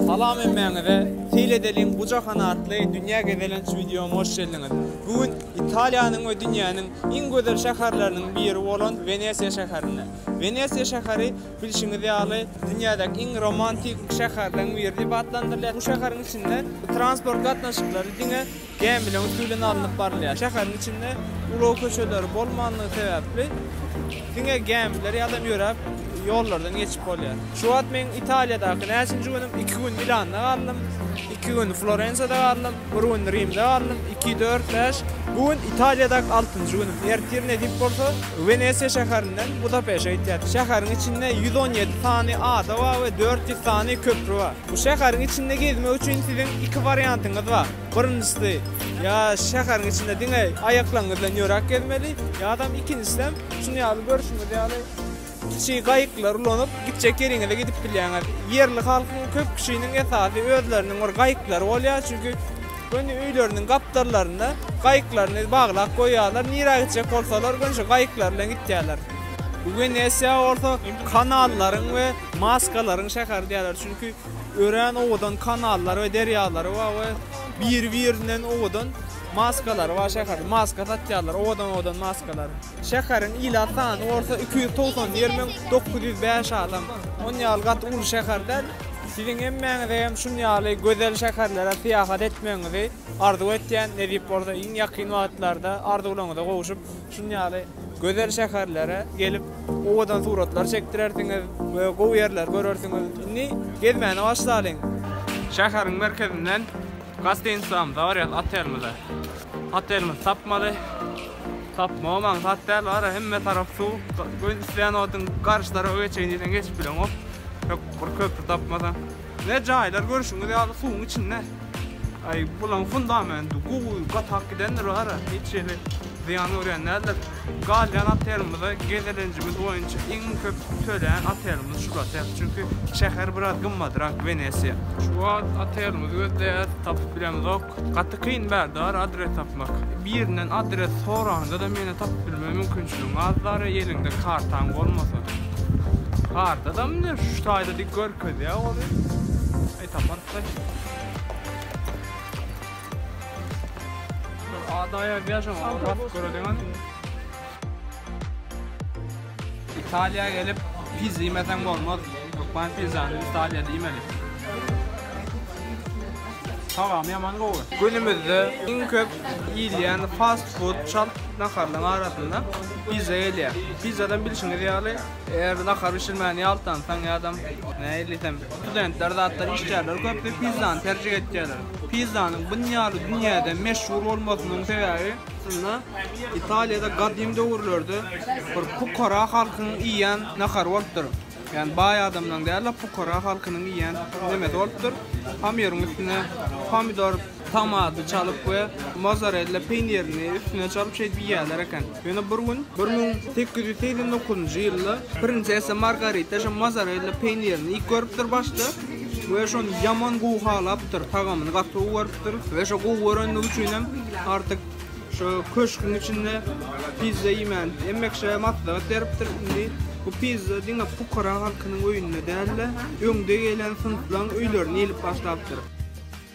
Salam hemmäňize. Seýredeliň bu jahan atly dünýä gezelenç wideoma hoş geldiňiz. Bu gün Italiýanyň we dünýäniň iň gözel şäherleriniň biri bolan Wenesiýa şäherinde. Wenesiýa şäheri bilşiňiz ýaly dünýädäki iň romantik şäherleriň biri diýip atlandyrylýar. Bu şäheriň içinde transport gatnaşyklary diňe Gämileriň üsti bilen alnyp barylýar. Şäheriň içinde ulag köçeleri bolmandygy sebäpli, diňe gämiler ýa-da ýöräp ýollardan geçip bolýar. Şu wagt men Italiýadaky näçinji günüm, iki gün Milanda galdym, iki gün Florensiýada galdym, bir gün Rimde galdym, iki, dört, bäş, bu gün Italiýadaky altynjy günüm. Ertir nesip bolsa, Wenesiýa şäherinden Budapeşe gitýäs. Şäheriň içinde ýüz on ýedi sany ada bar we dört ýüz sany köpri bar. Bu şäheriň içinde gezmek üçin siziň iki wariantyňyz bar. Birinjisi, ýa şäheriň içinde diňe aýaklaryňyz bilen ýöräp gezmeli, ýa-da ikinjisem, şunuň ýaly görşüňiz ýaly kiçi gaýyklary ulanyp, gitjek ýeriňize gidip bilýäňiz. Ýerli halkyň köp kişiniň esasy özleriniň bir gaýyklary bolýar, çünki göni öýleriniň gapdallarynda gaýyklaryny baglap goýýarlar, nirä gitjek bolsalar, göni şo gaýyklar bilen gitýärler. Wenesiýa bolsa kanallaryň we maskalaryň şäheri diýýärler, çünki Örän owadan kanallar we derýalary bar we biri-birinden owadan maskalary bar şäheriň. Maska satýarlar, owadan-owadan maskalar. Şäheriň ilat sany bolsa iki ýüz togsan bir müň dokuz ýüz bäş adam. Ony ýaly gaty uly şäher däl. Siziň hemmäňize hem şun ýaly gözel şäherlere syýahat etmegiňizi arzuw etýän, nesip bolsa iň ýakyn wagtlarda arzuwlaryňyza gowşup, Çyn ýaly gözel şäherlere gelip, owadan suratlar çekdirersiňiz we gowy ýerleri görersiňiz. Indi gezmäne başlalyň! Şäheriň merkezinden gostinislamyza barýarys, otelimize. Otelimizi tapmaly. Tapmagy maksat däl, bara hemme tarap suw. Gön isleýän wagtyň garşy tarafa geçeýin diýseň geçip bileňok. Ýok, bir köpri tapmasaň. Ve jaýlar görüşüňiz ýaly suwuň içinde. Aý bulaň fundamenti gowy gatap gidendir gara hiç hili zyýan görýän däldir. Galýan otelimize gezelenjimiz boýunça iň köp tölän otelimiz şul otel. Çünki şäher biraz gymmadyrak Wenesiýa. Şu wagt otelimizi gözleýäs tapyp bilemizok. Gaty kyn bärdar adres tapmak. Birinden adres soranyňda-da meni tapyp bilme mümkinçiligiň azdar eliňde kartaň bolmasa. Kartada mine şu taýda dik görkezýä oly. Aý taparys daş. Şol ada ýazýa şoňa basyp göreliň hany. Italiýa gelip pizza iýmeseň bolmaz. Hökman pizzany Italiýada iýmeli. Tagamy ýaman gowy. Günümizde iň köp iýilýän fast food çalt naharlaryň arasynda pizza gelýär. Pizzadan bilşiňiz ýaly, eger nahar bişirmäni ýaltansaň ýa-da nähili diýsem, studentler zatlar içýärler, köpüsi pizzany terjik etýärler. Pizzanyň bun ýaly dünýäde meşhur bolmasynyň sebäbi, Aslynda, Italiýada gadym döwürlerde bir pukara halkyň iýýän nahary bolupdyr. Ýagny baý adamlaryň däl-de, pukara halkynyň iýýän nemesi bolupdyr. Pomýoryň üstüne pomidor, tomaty çalyp we mozarella peýnirini üstüne çalyp şeýdip iýýärler eken. Ýöne bir gün, bir müň sekiz ýüz segsen dokuzynjy ýylda, printsessa Margarita şo mozarella peýnirini iýip görüpdir başda. we şony ýaman gowy halapdyr, tagamyny gaty gowy görüpdir we şo gowy görendigi üçin hem artyk şu köşgüň içinde pizza iýmän emmekşä maslahat beripdir. Indi bu pizza diňe pukara halkynyň öýünde däl-de, öňde gelen synplaň öýlerine ilip başlapdyr.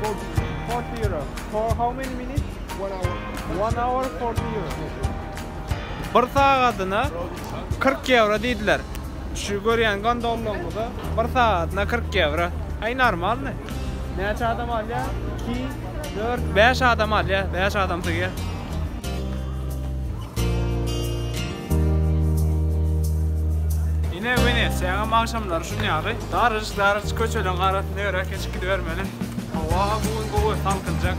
For forty euro. For how many minutes? One hour. One hour forty euro. Bir sagadyna kyrk ýewro diýdiler. Şu görýän gondollaňyza bir sagadyna kyrk ýewro. Aý normalny. Näçe adam alýar? Iki, dört, bäş adam alýar. Bäş adam sygar. Ine Wenesiýanyň agşamlary şun ýaly. Daryjyk-daryjyk köçeleriň arasynda ýöräp geçip gidibermeli. Howa bu gün gowy, salkynjak.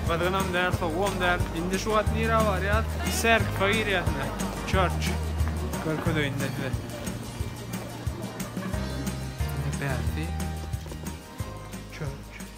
Gyzgynam däl, sowugam däl. Indi şu wagt nirä barýas? Sergka girýäs ine. Church. Görkezeýin ine size. Ine bärsi. Church.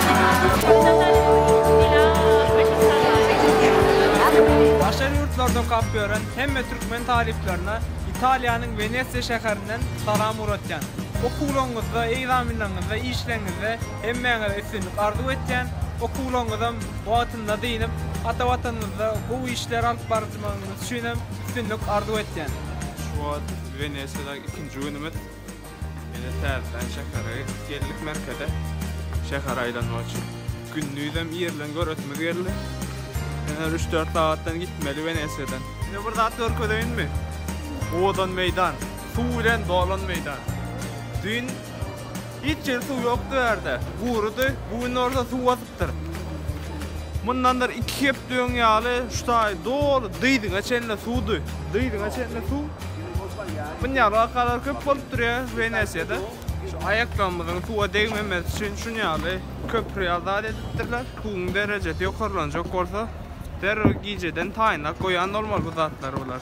Daşary ýurtlarda okap ýören hemme türkmen talyplaryna Italiýanyň Wenesiýa şäherinden salam ugratýan. Okuwlaryňyzda, egzaminleriňizde, işleriňizde hemmäňize üstünlik arzuw etýän, okuwlaryňyzam wagtynda dynyp, ata Watanymyzda gowy işler alyp barjmagyňyz üçinem üstünlik arzuw etýän. Şu wagt Wenesiýada ikinji günümiz. Ine täzeden şähere gitdik geldik merkeze. Şäher aýlanmak üçin. Gündizem irden göresimiz geldi. Ine üç-dört sagatdan gitmeli Wenesiýadan. Ine bir zat görkezeýinmi? Owadan meýdan. Suw bilen dolan meýdan. Düýn hiç ýerde suw ýokdy bu ýerde. Gurydy. Bu gün bolsa suw basyp ýatyrypdyr. Mundandyr iki hepde öň ýaly şu taý doly dyzyňa çenli suwdy. Dyzyňa çenli suw. Mun ýaly wakalar köp bolup durýar Wenesiýada. Şu aýaklarymyzyň suwa degmemesi üçin şun ýaly köpri ýazat edipdirler. Suwuň derejesi ýokarlanjak bolsa, derrew gijeden taýynlap goýan bolmaly bu zatlary bular.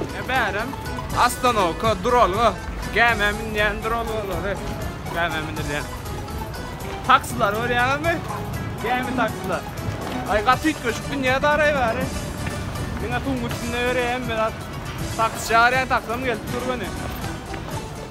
Ine bärem ostanowka duralga, gämä münýän duralgalary, gämä münülýän. Taksilary görýäňizmi? Gämi taksiler. Aý gaty üýtgeşik dünýä daray bäri. Diňe suwuň üstünde ýöreýän bir zat. Taksi çagyrýan, taksim gelip dur göni.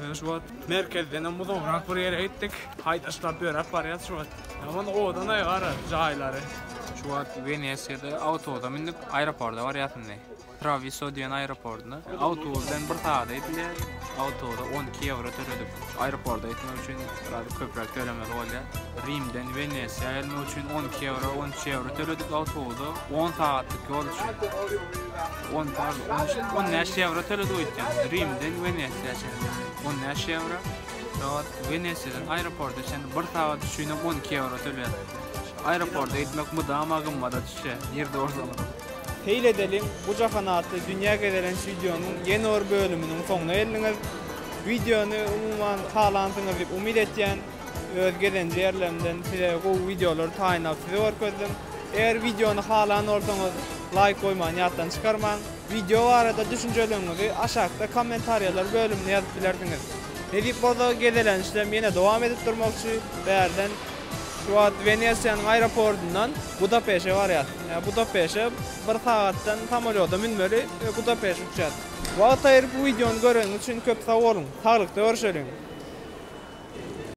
Mena şu wagt merkezden hem uzagrak bir ýere gitdik. Haýdaşlap ýöräp barýas şu wagt. Ýaman owadan-aý gara jaýlary. Şu wagt Wenesiýada awtobusa mündik aeroporta barýas indi. Trawiso diýen aeroportyna. Awtobus bilen bir sagada gidilýär. Awtobusa on iki ýewro töledik. Aeroporta gitmek üçin biraz köpräk tölemeli bolýar. Rimden Wenesiýa gelmek üçin on iki ýewro, on üç ýewro töledik awtobusa on sagatlyk ýol üçin. On tars, on üç, on bäş ýewro töledi öýtýän. Rimden Wenesiýa çenli on bäş ýewro. Soňat Wenesiýadan aeroporta çenli bir sagat üçin hem on iki ýewro tölýär. Aeroporta gitmek mydama gymmada düşýär, ýerde bolsaňyzam. Seýil edeliň, bu jahan atly dünýä gezelenç wideonyň ýene bir bölüminiň soňuna geldiňiz. Wideony, umuman, halansyňyz diýip umyt etýän. Öz gezenje ýerlerimden size gowy wideolary taýynlap size görkezdim. Eger wideony halan bolsaňyz laýk goýmany ýatdan çykarmaň. Wideo barada düşünjeleriňizi aşakda kommentariýalar bölümine ýazyp bilersiňiz. Nesip bolsa gezelençlem ýene dowam edip durmakçy. Bärden şu wagt Wenesiýanyň aeropordundan Budapeşe barýas. Ýa Budapeşe bir sagatdan samolýoda münmeli we Budapeşe uçýas. Wagt aýyryp wideony göreniňiz üçin köp sag boluň. Saglykda görüşeliň.